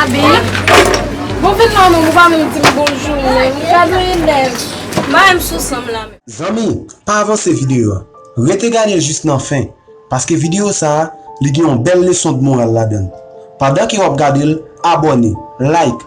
Abi, bon vin nan menm ou pa menm dim bonjou menm, ou ka dwe elèv, mayem sou sanm la menm. Zanmi, pa avanse video a, rete gadel jis nan fen, paske video sa a, li gen yon bèl leson dmoral ladann. Pandan ke wap gadel, abòne, like,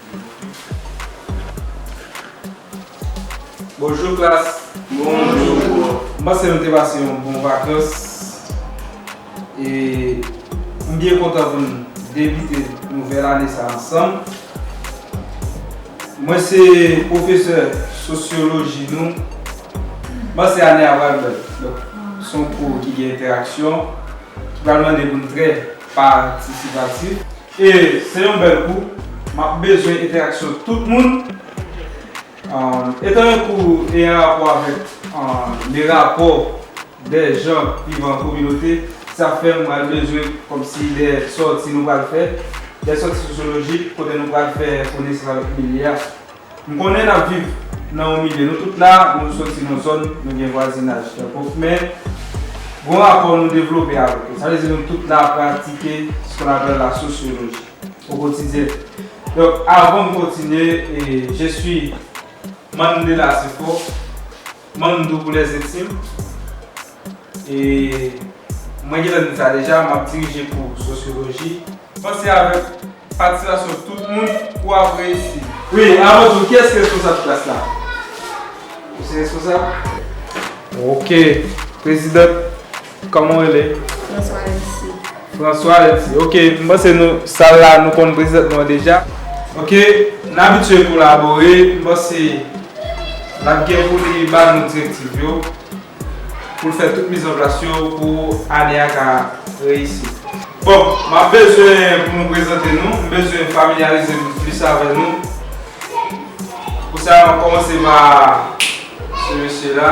Bonjour classe. Bonjour prof. M panse nou te pase yon bon vakans e m byen kontan pou n debite nouvèl ane sa ansanm. Mwen se pwofesè sosyoloji nou. M panse ane a pral bèl. Donk se yon kou ki gen entèraksyon ki pral mande pou n trè patisipatif. E se yon bèl kou, map bezwen entèraksyon tout moun. Etan yon kou e an rapò avèk le rapò dè jan vivan an kominote, sa fè m pral bezwen kòmsi dè sòti nou pral fè, dè sòti sosyolojik kote nou pral fè konesans avèk milye a. M konnen nap viv nan yon milye nou tout la nou soti nan zòn nou gen vwazinaj Kerkhoff men gon rapò nou devlope avèk yo sa vle di nou tout la pratike s kon apèl la sosyoloji o kotidyen donk avan m kontinye je suis Mandela Sefo. Manm Doubou Les Intimes e mwen gentan di sa deja map dirije kou sosyoloji. Panse avèk patisipasyon tout moun kou ap reyisi. Wi, avan tou kiyès ki responsab klas la? Ou se responsab? Ok, President. Koman w rele? François Elsie. François Elsie. Ok, m panse nou sal la nou konn prezidan nou an deja. Ok, n abitye kolabore. M panse l ap gen pou li ba nou direktiv yo pou l fè tout mizanplas yo pou ane a ka reyisi. Bon, m ap bezwen pou nou prezante nou. M bezwen familyarize m plis avè nou. Pou sa, m ap kòmanse pa se mesye la.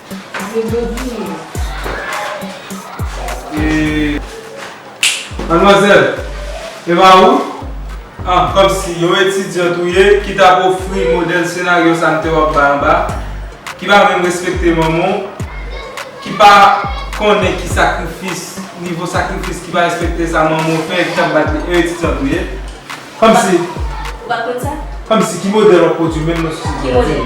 Se jodi wi. Paske Manmwazèl, e pa ou? An, kòmsi yon etidyant ou ye ki t ap ofri modèl senaryo sa m te wè w bay anba a, ki pa menm respekte manman w, ki pa konnen ki sakrifis, nivo sakrifis, ki pa respekte sa manman w fè, ki t ap bat li, yon etidyant ou ye? Kòmsi. Ou pa konn sa? Kòmsi ki modèl w ap pwodui menm nan sosyete a? Ki modèl?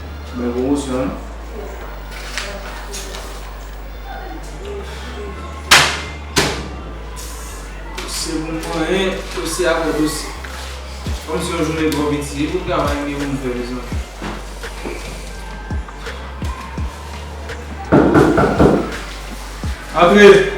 Bèl pwomosyon wi. Dosye pou m konyen, dosye apre dosye. Kòm si yon jounen twò piti, e pou travay m gen pou m fè mezanmi. Antre!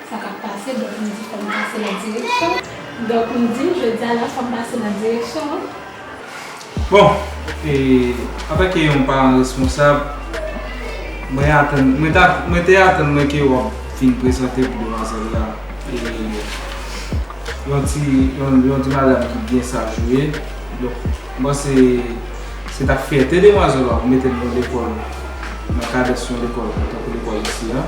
Sa k ap pase, donk m di fò m pase nan direksyon an. Donk m di jodi a la fò m pase nan direksyon an. Bon, e antanke yon paran responsab, mwen atann, mwen ta, mwen te atann mwen ke w ap fin prezante pou demwazèl la e yon ti, yon, yon ti madam ki byen saj ou ye. Donk m panse se t ap fyète demwazèl la pou mete l nan lekòl, nan kadans yon lekòl tankou lekòl isi a.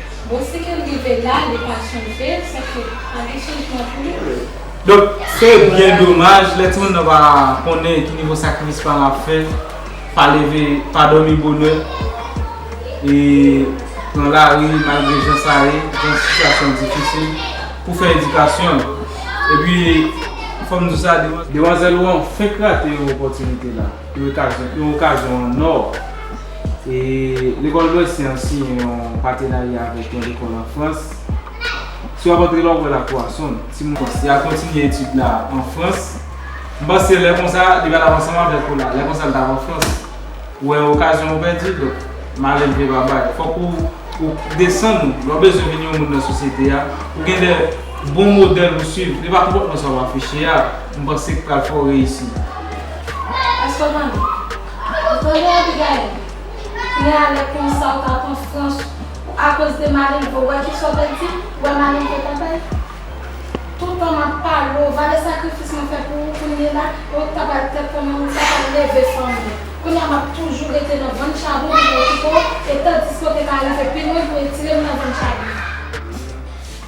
Bon si kel rive la li pa chanje sa fè pa gen chanjman pou li vre. Donk se byen domaj lè timoun nan pa konnen ki nivo sakrifis paran ap fè, pa leve, pa dòmi bonè e pran lari malgre jan sa ye, jan sitiyasyon an difisil pou fè edikasyon l. Epi fò m di w sa, demanzèl ou an fenk rate yon opòtinite la. Yon okazyon an or! Lekòl Lwès Yan siyen yon patenarya avèk yon lekòl an Frans. Si w ap antre la, w wè Lakwa Sonn. Timoun yo kontinye etid la an Frans. M panse lè konsa, li pa t ap ansanm avèk ou la. Lè konsa, l t ap an Frans. Ou wè, okazyon ou pèdi. Donk, malenvle pa bay. Fòk ou desann ou. Lè w bezwen vin yon moun nan sosyete a, ou gen de bon modèl pou w suiv. Li pa konpòtman sa w afiche a, m panse, k pral fè w reyisi. Èske w tande? Ou tande, Abigayil? Kounye a, lè konsa ou ta pran frans ou akoz de Malin vre. Ou wè ki sa w te di m? Ou wè Malin te kontan? Tout tan m ap pale w, ou vale sakrifis mwen fè pou ou kounye la? E ou t ap al tèt fanmi w, ou t ap al leve fanmi w. Kounye a, m ap toujou rete nan vann chabon pou m okipe w, etandiske ou te ka rive pi lwen pou w etire m nan vann chabon an.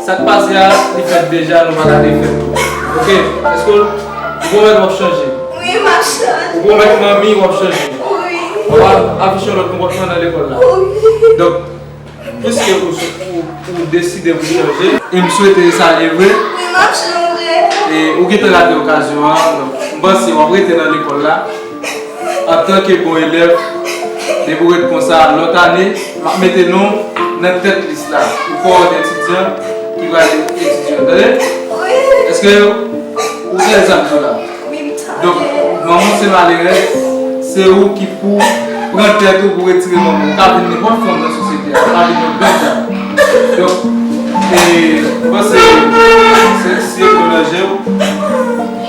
Sak pase a li fèt deja nou paka refèl ok eske ou pwomèt wap chanje wi map chanje ou pwomèt manmi wap chanje wi wap afiche yon lòt konpòtman nan lekòl la wi donk piske ou deside pou chanje em swete sa ye vre wi map chanje ou gentan rate okazyon an donk m panse wap rete nan lekòl la. Antanke bon elèv, depi ou ret konsa lòt ane, m ap mete non w nan tèt lis la pou kowòt etidyan ki pral vin etidye w. Tande? Èske ou fè sa m di w la? Donk, manman w se malerèz, se ou ki pou w pran tèt ou pou w retire manman w. Ou ka vin nenpòt fanm nan sosyete a, ou ka vin yon gran dam. Donk, e, m panse, se ti se dlo nan je w.